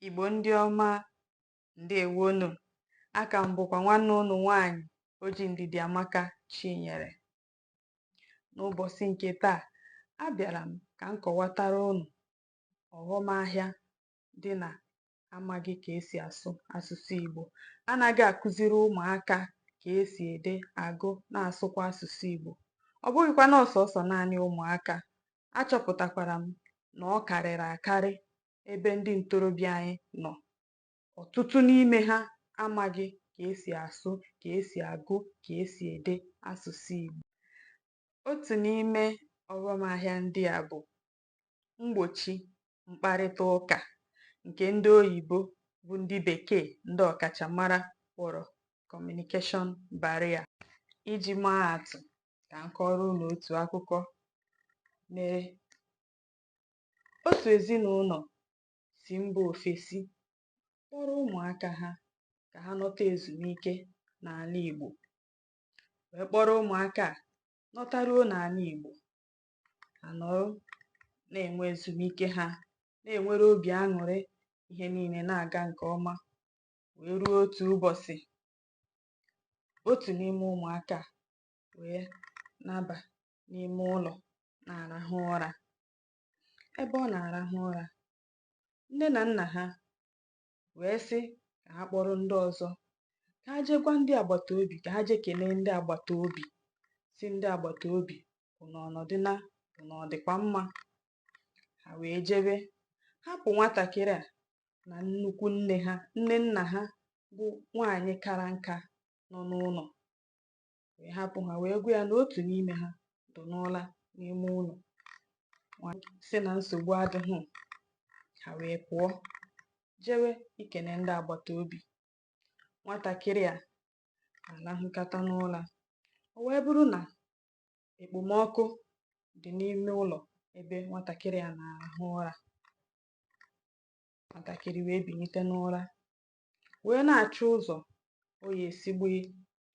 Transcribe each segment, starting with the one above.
Igbo ndị ọma ndeewo nụ aka m bụkwa nwanne unu nwanyị Oji Ndidiamaka Chinyere n'ụbọchị nke taa abịara m ka m kọwatara unu ọghọm ahịa dị na amaghị ka esi asụ asụsụ Igbo, anaghị akụziri ụmụaka ka esi ede, agụ, na-asụkwa asụsụ Igbo. Ọ bụghịkwa na ọ sọọsọ naanị ụmụaka, achọpụtakwara m na ọ karịrị akarị ebe ndị ntorobịa anyị nọ. Ọtụtụ n'ime ha amaghị ka esi asụ, ka esi agụ, ka esi ede asụsụ Igbo. Otu n'ime ọghọm ahịa ndị a bụ mgbochi mkparịta ụka nke ndị oyibo bụ ndị bekee ndị ọkachamara kpọrọ communication barrier. Iji maa atụ, ka m kọọrọ unu otu akụkọ mere. Otu ezinụlọ si mba ofesi kpọrọ ụmụaka ha ka ha nọta ezumike n'ala Igbo wee kpọrọ ụmụaka a nọtaruo n'ala Igbo ha nọrọ na-enwe ezumike ha na-enwere obi aṅụrị ihe niile na-aga nke ọma wee ruo otu ụbọchị otu n'ime ụmụaka wee naba n'ime ụlọ na-arahụ ụra ebe ọ na-arahụ ụra nne na nna ha wee sị ka ha kpọrọ ndị ọzọ ka ha jee gwa ndị agbata obi ka ha jee kenee ndị agbata obi sị ndị agbata obi unu ọnọdụ na unu ọ dịkwa mma ha wee jebe hapụ nwatakịrị a na nnukwu nne ha nne nna ha bụ nwaanyị kara nka nọ n'ụlọ wee hapụ ha wee gwa ya na otu n'ime ha dị n'ụra n'ime ụlọ sị na nsogbu adịghị ha wee pụọ jewe ikene ndị agbata obi nwatakịrị a alahụkata n'ụra o wee bụrụ na ekpomọkụ dị n'ime ụlọ ebe nwatakịrị a na-alahụ ụra nwatakịrị wee bilite n'ụra wee na-achọ ụzọ ọ ya-esi gba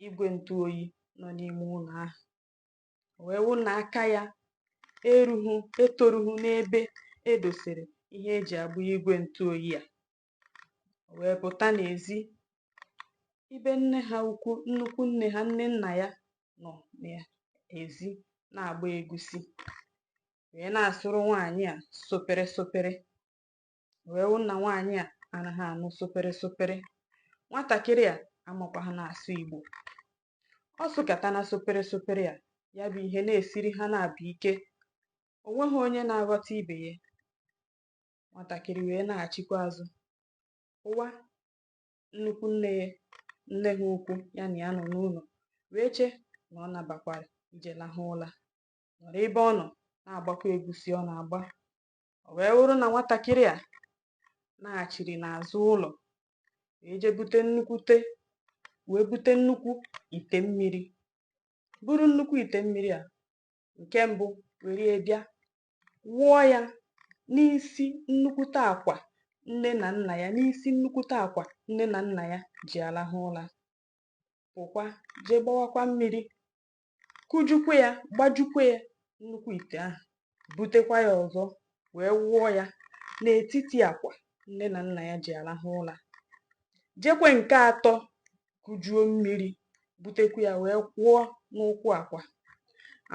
igwe ntụ oyi nọ n'ime ụlọ ahụ o wee wụ na aka ya erughị etorughị n'ebe edosere ihe eji agba igwe ntụ oyi a o wee pụta n'ezi ebe nne ha ukwu nnukwu nne ha nne nna ya nọ n'ezi na-agba egusi wee na-asụrụ nwaanyị a supiri supiri wee wụ na nwaanyị a anaghị anụ sụpịrị sụpịrị nwatakịrị a amakwaghị na-asụ Igbo ọ sụkata na sụpịrị sụpịrị a ya bụ ihe na-esiri ha naabọ ike o nweghị onye na-aghọta ibe ya nwatakịrị wee naghachikwa azụ ụwa nnukwu nne nne ha ukwu ya na ya nọ n'ụlọ wee chee na ọ nabakwara ije lahụ ụla nọrọ ebe ọ nọ na-agbakwa egusi ọ na-agba O wee wụrụ na nwatakịrị a naghachiri n'azụ ụlọ wee jee bute nnukwute wee bute nnukwu ite mmiri buru nnukwu ite mmiri a nke mbụ were ya bịa wụọ ya n'isi nnukwute akwa nne na nna ya n'isi nnukwute akwa nne na nna ya ji alahụ ụla pụkwa jee gbawakwa mmiri kujukwa ya gbajukwa ya nnukwu ite ahụ butekwa ya ọzọ wee wụọ ya n'etiti akwa nne na nna ya ji alahụ ụla jekwe nke atọ kujuo mmiri butekwa ya wee kwụọ n'ụkwụ akwa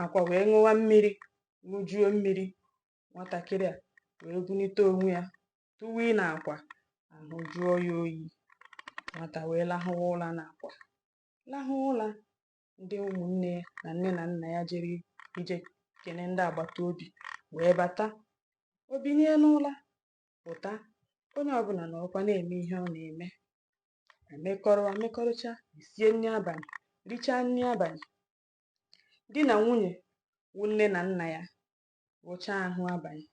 akwa wee ṅụwa mmiri ṅụjuo mmiri nwatakịrị a wee bunite onwe ya tụwa n'akwa ahụ jụọ ya oyi nwata wee lahụwa ụla n'akwa lahụ ụla ndị ụmụnne na nne na nna ya jere ije kene ndị agbata obi wee bata o binie n'ụla pụta onye ọbụla nọrọkwa na-eme ihe ọ na-eme emekọrọ emekọrịcha sie nri abalị richaa nri abalị di na nwunye wụ nne na nna ya wụcha ahụ abalị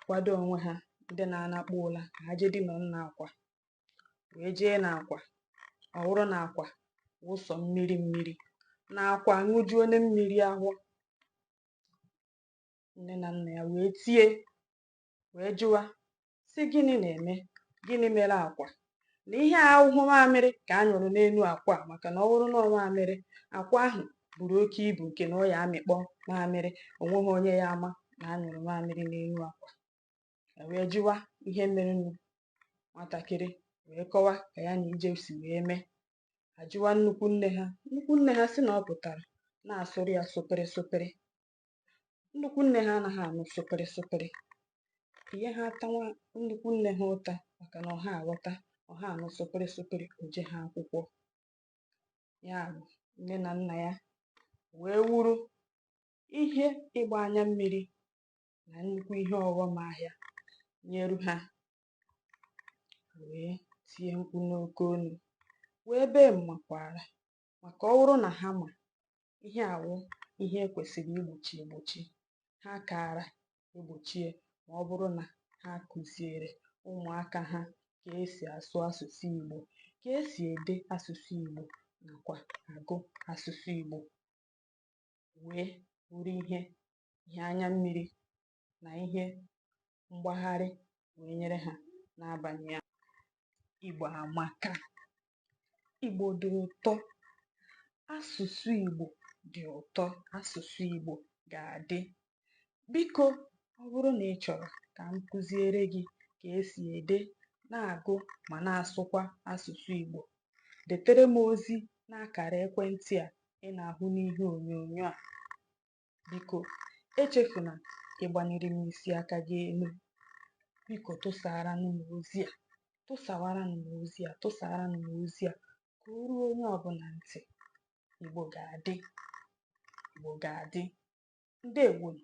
kwado onwe ha ndị na-anakpu ụla ka ha jee dina n'akwa wee jee n'akwa ọ wụrụ na akwa wụ sọ mmiri mmiri na akwa aṅụjuona mmiri ahụ nne na nna ya wee tie wee jụwa sị gịnị na-eme gịnị mere akwa na ihe a awụhụ mamịrị ka a nyụrụ n'elu akwa maka na ọ bụrụ na mamịrị akwa ahụ buru oke ibu nke na ọ ya amịkpọ mamịrị o nweghị onye ya ama na a nyụrụ mamịrị n'elu akwa e wee jụwa ihe merenụ nwatakịrị wee kọwa ka ya na ije si wee mee a jụwa nnukwu nne ha nnukwu nne ha sị na ọ pụtara na-asụrụ ya sụpịrị sụpịrị nnukwu nne ha anaghị anụ sụpịrị sụpịrị ihe ha atawa nnukwu nne ha ụta maka na ọ ha aghọta ọ ha anụ sụpịrị sụpịrị o jeha akwụkwọ ya bụ nne na nna ya wee wụrụ ihe ịgba anya mmiri na nnukwu ihe ọghọm ahịa nyeru ha wee tie mkpu n'oke olu wee bee m makwaara maka ọ wụrụ na ha ma ihe a wụ ihe e kwesịrị igbochi egbochi ha kaara egbochie ma ọ bụrụ na ha kụziere ụmụaka ha ka esi asụ asụsụ Igbo ka esi ede asụsụ Igbo nakwa agụ asụsụ Igbo wee bụrụ ihe ihe anya mmiri na ihe mgbagharị wee nyere ha n'abalị ya Igbo amaka Igbo dị ụtọ asụsụ Igbo dị ụtọ asụsụ Igbo ga-adị biko ọ bụrụ na ị chọrọ ka m kụziere gị ka esi ede na-agụ ma na-asụkwa asụsụ Igbo detere m ozi n'akara ekwentị a ị na-ahụ n'ihe onyonyo a Biko, echefuna ịgbaniri m isi aka gị elu. Biko, tụsaaranụ m ozi a. Tụsawaranụ m ozi a. Tụsaaranụ m ozi a ka o ruo onye ọbụla ntị. Igbo ga-adị. Igbo ga-adị. Ndewonu.